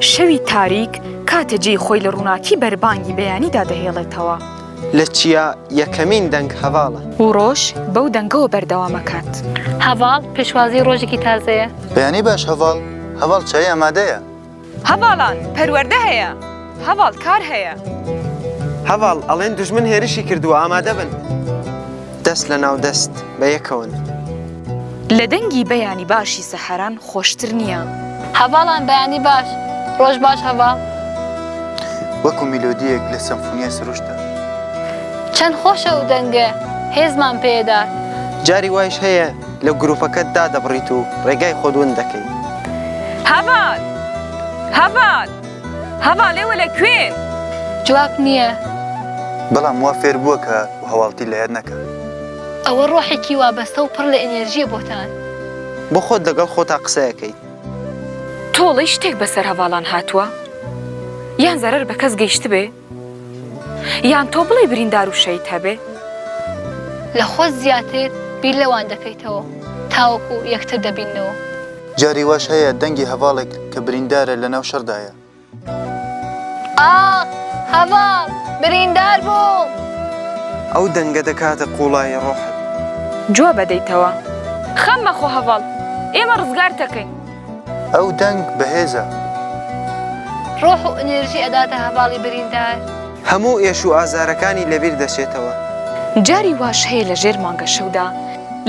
شەوی تاریک کاتێ جێی خۆی لە ڕووناکی بەربانگی بەیانیدا دەهێڵێتەوە. لە چیا یەکەمین دەنگ هەڤاڵە. و ڕۆژ بەو دەنگەوە بەردەوام ئەکات. هەڤاڵ پێشوازی ڕۆژێکی تازەیە. بەیانی باش هەڤاڵ، هەڤاڵ چایی ئامادەیە. هەڤاڵان پەروەردە هەیە. هەڤاڵ کار هەیە. هەڤاڵ ئەڵێن دوژمن هێرشی کردووە ئامادە بن. دەست لە ناو دەست بە یەکەوەن. لە دەنگی بەیانی باشی سەحەران خۆشتر نییە. هەڤاڵان بەیانی باش ڕۆژ باش هەڤاڵ. وەکو میلۆدییەک لە سەمفونیای سروشتدا. چەند خۆشە ئەو دەنگە هێزمان پێدات. جاری وایش هەیە لە گروپەکەت دادەبڕیت و ڕێگای خۆت ون دەکەیت. هەڤاڵ! هەڤاڵ! هەڤالێ وە لە کوێن؟ جواب نیە. بەڵام وا فێر بووە کە هەواڵتی لە یاد نەکا. ئەوە ڕۆحێکی وابەستە و پڕ لە ئینێرژییە بۆتان. بۆ خۆت لەگەڵ خۆتا قسە ئەکەیت. تۆڵەی شتێک بەسەر هەڤاڵان هاتووە؟ یان زەرەر بە کەس گەیشتبێ؟ یان تۆ بڵێی بریندار و شەید هەبێ؟ لە خۆت زیاتر بیر لەوان دەکەیتەوە تاوەکو یەکتر دەبیننەوە. جاری واش هەیە دەنگی هەڤاڵێک کە بریندارە لە ناو شەڕدایە. ئاخ هەڤاڵ بریندار بوو. ئەو دەنگە دەکاتە قوڵایی ڕۆحت. جواب ئەدەیتەوە؟ خەم مەخۆ هەڤاڵ ئێمە ڕزگارت ئەکەین. ئەو دەنگ بەهێزە. ڕۆح و ئنێرژی ئەداتە هەڤاڵی بریندار. هەموو ئێش و ئازارەکانی لەبیر دەچێتەوە. جاری واش هەیە لە ژێر مانگە شەودا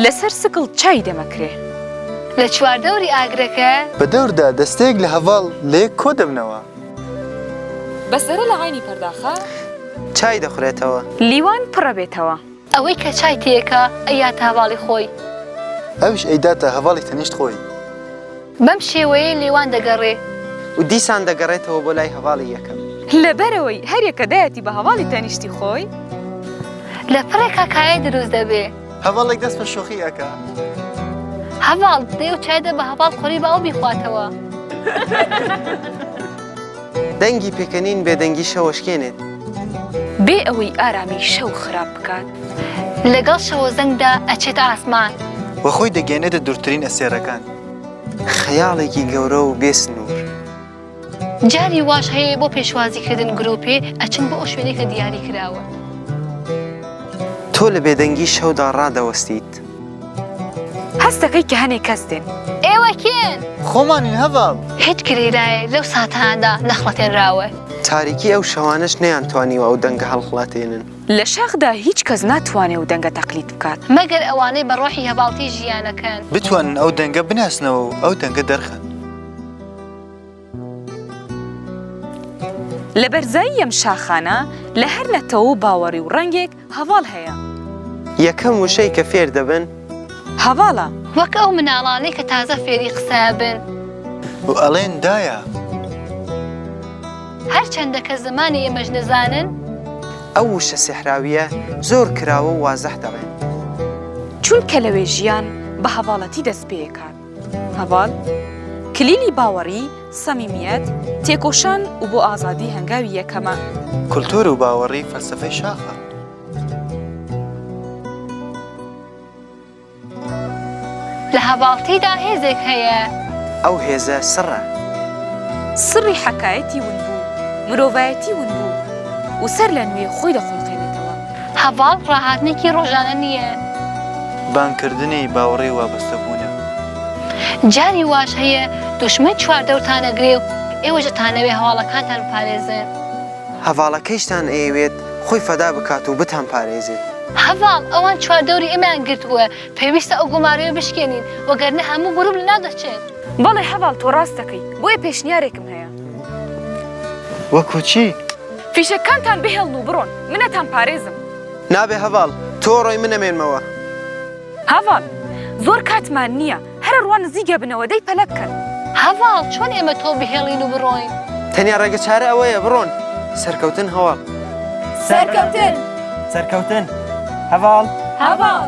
لە سەر سکڵ چای دەمەکرێ. لە چواردەوری ئاگرەکە. بە دەوردا دەستەیەک لە هەڤاڵ لە یەک کۆ دەبنەوە. بە زەرە لە عەینی پەرداخە. چای دەخورێتەوە. لیوان پڕەبێتەوە. ئەوەی کە چای تێکا ئەیاتە هەڤاڵی خۆی. ئەویش ئەیداتە هەڤاڵی تەنیشت خۆی. بەم شێوەیەی لێوان دەگەڕێ. و دیسان دەگەڕێتەوە بۆ لای هەڤاڵی یەکەم. لەبەرئەوەی هەریەک کە دایەتی بە هەڤاڵی تەنیشتی خۆی. لە پڕێکا کایە دروست دەبێ. هەڤاڵێک دەست بە شۆخی ئەکا. هەڤاڵ دێ و چای دە بە هەڤاڵ قۆری با ئەو بیخواتەوە. دەنگی پێکەنین بێدەنگی شەوەشکێنێت. بێ ئەوەی ئارامی شەو خراپ بکات. لەگەڵ شەوەزەنگدا ئەچێتە ئاسمان. وە خۆی دەگەیەنێتە دورترین ئەستێرەکان. خەیاڵێکی گەورە و بێ سنور. جاری واش هەیە بۆ پێشوازی کردن گروپێ ئەچن بۆ ئەو شوێنەی کە دیاری کراوە. تۆ لە بێدەنگی شەودا ڕادەوەستیت. دەکات. هەست دەکەی کە هەنێ کەس دێن. ئێوە کێن؟ خۆمانین هەڤاڵ. هیچ گریرایەک لەو ساتانەدا نەخڵەتێنراوە. تاریکی ئەو شەوانەش نەیانتوانیوە ئەو دەنگە هەڵخڵەتێنن. لە شاخدا هیچ کەس ناتوانێ ئەو دەنگە تەقلید بکات. مەگەر ئەوانەی بە ڕۆحی هەڤاڵتی ژیانەکەن. بتوانن ئەو دەنگە بناسنەوە و ئەو دەنگە دەرخەن. لە بەرزایی یەم شاخانە لە هەر نەتەوە و باوەڕی و ڕەنگێک هەڤاڵ هەیە. یەکەم وشەی کە فێر دەبن. هەڤاڵە. وەک ئەو مناڵانەی کە تازە فێری قسە ئەبن. و ئەڵێن دایە. هەر چەندە کە زمانی ئێمەش نەزانن. ئەو وشە سیحراوییە زۆر کراوە و وازەح دەڵێن. چونکە لەوێ ژیان بە هەڤاڵەتی دەست پێ ئەکات. هەڤال، کلیلی باوەڕی، سەمیمیەت، تێکۆشان و بۆ ئازادی هەنگاوی یەکەمە. کولتوور و باوەڕی فەلسەفەی شاخە. لە هەڤالتیدا هێزێک هەیە. ئەو هێزە سڕە. سڕی حەکایەتی ونبوو، مرۆڤایەتی ونبوو و سەرلەنوێ خۆی دەخولقێنێتەوە. هەڤاڵ ڕاهاتنێکی ڕۆژانە نییە. بانگ کردنی باوەڕی وابەستەبوونە. جاری واش هەیە دوشمن چواردەورتان ئەگرێ و ئێوەش ئەتانەوێ هەواڵەکانتان بپارێزن. هەڤاڵەکەیشتان ئەیەوێت خۆی فەدا بکات و بتان پارێزێت. هەڤاڵ، ئەوان چواردەوری ئێمەیان گرتووە، پێویستە ئەو گومارەیە بشکێنین، وەگەرنە هەموو گروپ لەناو دەچێت. بەڵێ هەڤاڵ تۆ ڕاست دەکەی، بۆیە پێشنیارێکم هەیە. وەکو چی؟ فیشەککانتان بهێڵن و بڕۆن. من ئەتان پارێزم. نابێ هەڤاڵ، تۆ ڕۆی من ئەمێنمەوە. هەڤاڵ، زۆر کاتمان نییە. هەرە ڕوا نزیک ئەبنەوە، دەی پەلە بکەن. هەڤاڵ، چۆن ئێمە تۆ بهێڵین و بڕۆین؟ تەنیا ڕێگە چارە ئەوەیە، بڕۆن. سەرکەوتن هەڤاڵ. سەرکەوتن. سەرکەوتن هەڤاڵ. هەڤاڵ.